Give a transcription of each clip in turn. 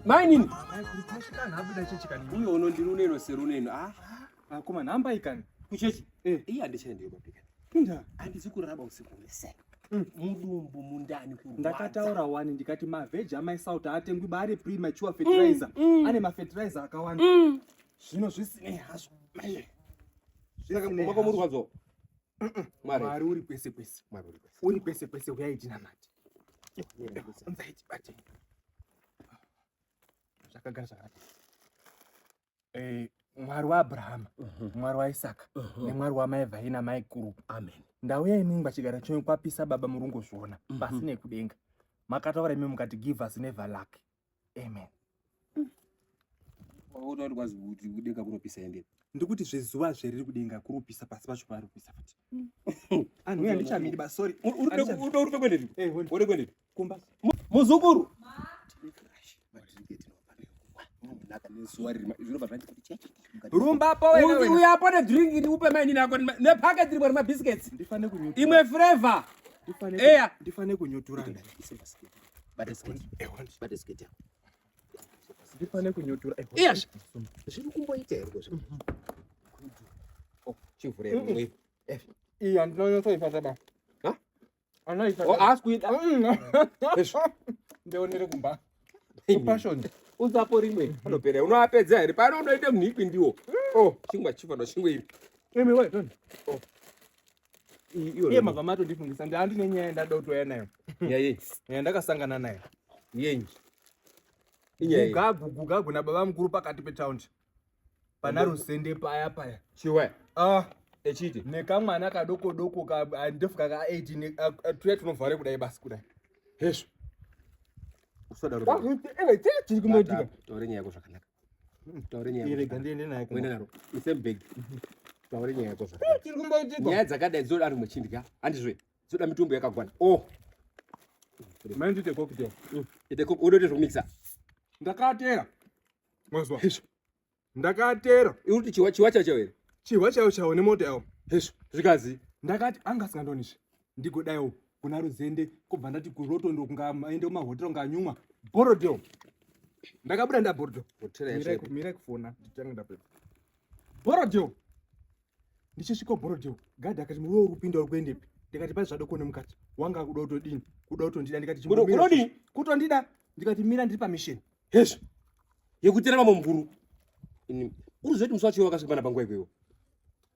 mainini uyo unondiri uneno seruneno ah, ah, akoma nhamba ikani kuchechi eh. iye andichaendeyo babika pinda andizi kuraraba usiku wese mm. mudumbu mundani kurwadza ndakataura wani ndikati mavheji amaisauti aatengwi baari premature fertilizer mm, mm. ane mafetiraiza akawanda zvino zvisinei hazvo zvakakomba kwamurwadzo Mwari uri kwese kwese. Mwari uri kwese. Uri kwese kwese uyai tinamate. Unzai tibate. Zvakagara zvakanaka. Eh, Mwari waAbrahama, mhm. Mwari waIsaka mhm. nemwari wamai vhai namai kuru. Amen. Ndauya imimi pachigaro chenyu kwapisa baba murungozviona mhm. pasi nekudenga. Makataura imimi mukati give us never luck. amen wautauri kwazi kuti kudenga kunopisa ende ndikuti zvezuva zveriri kudenga kurupisa pasi pacho parupisa futi mm. anhu uya ndichamiri ba sorry urupe kwendepi eh, ode kwendepi kumba muzukuru rumba pauyapo nedrink ndiupe mainini ako nepaketi rimwe remabiscuits imwe flavor eya ndifane kunyotorana bata sketi bata sketi yako ndipane kunyotora yes zviri kumboita here ko zviri oh, chivhure mwe eh iya ndinonyotsa ifata ba ha ana ifata oh ask with ndeonere kumba passion uzapo rimwe anopera unoapedza here pano unoita munhu ikwi ndiwo oh chingwa chivano chingwa iri imi wait oh iye mabva matondifungisa ndi andine nyaya ndada kutouya nayo nyaya ndakasangana nayo yenyi gugagu gugagu nababa mukuru pakati petaundi pana rusende paya paya chiwe ah echiti nekamwana kadoko doko kandefuka ka 18 tuya tunovhare kudai basi kudai hezvo usadaro tiri kumotika tore nyaya yako zvakanaka nyaya dzakadai dzoda ari muchindya handizve dzoda mitumbu yakagwana oh. odoite zvokumikisa ndakatera mazwa ndakatera iwe kuti chihwa chihwa chacho here chihwa chayo chawo nemota yawo hezvo zvikanzi ndakati anga asingandonizve ndigodaiwo kuna ruzende kubva ndati kuroto ndokunga aende kumahotera kunga anyumwa borodo ndakabuda ndaborodo mirai kufona nditange ndapedza borodo ndichosvika borodo gadhi akati muwe uri kupinda uri kuendepi ndikati pai zvadoko nemukati wanga kuda kutodini kuda kutondida ndikati chimunodii kutondida ndikati mira ndiri pamisheni hezvo yekutera mamwe mvuru uri zvoiti musi wacho wakasvika pana panguva ikweyo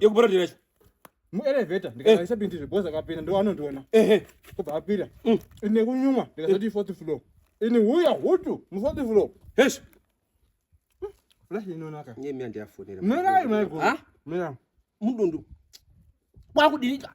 yekuborodera chi muelevheta ndikaisa pindi zveboza akapinda ndo anondiona kubva apinda mm. ine kunyuma ndikasati ifourth floor ini huya hutu mufourth floor hesh flash inonaka nyemi andiyafonera mirayi maiguru mirayi mudundu kwakudirika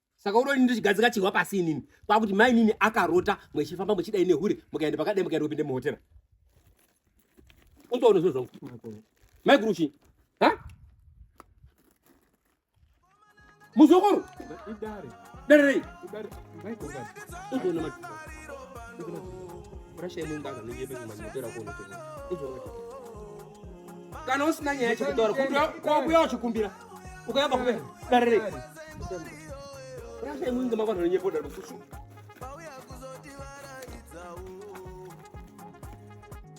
saka unoni ndichigadzika chihwa pasi inini kwakuti mai nini akarota mwechifamba mwechida ine hure mukaenda pakadai mukaenda kupinde muhotera undoona zvinhu zvangu mai guru chii ha muzukuru dare rei undoona rasha imwe ngaga nonyebe kumanyotera kuonotoa kana usina nyaya chekutaura kwakuya uchikumbira ukayamba kubera dare rei rasha imwe inga makwanhano nyepo dare kusuka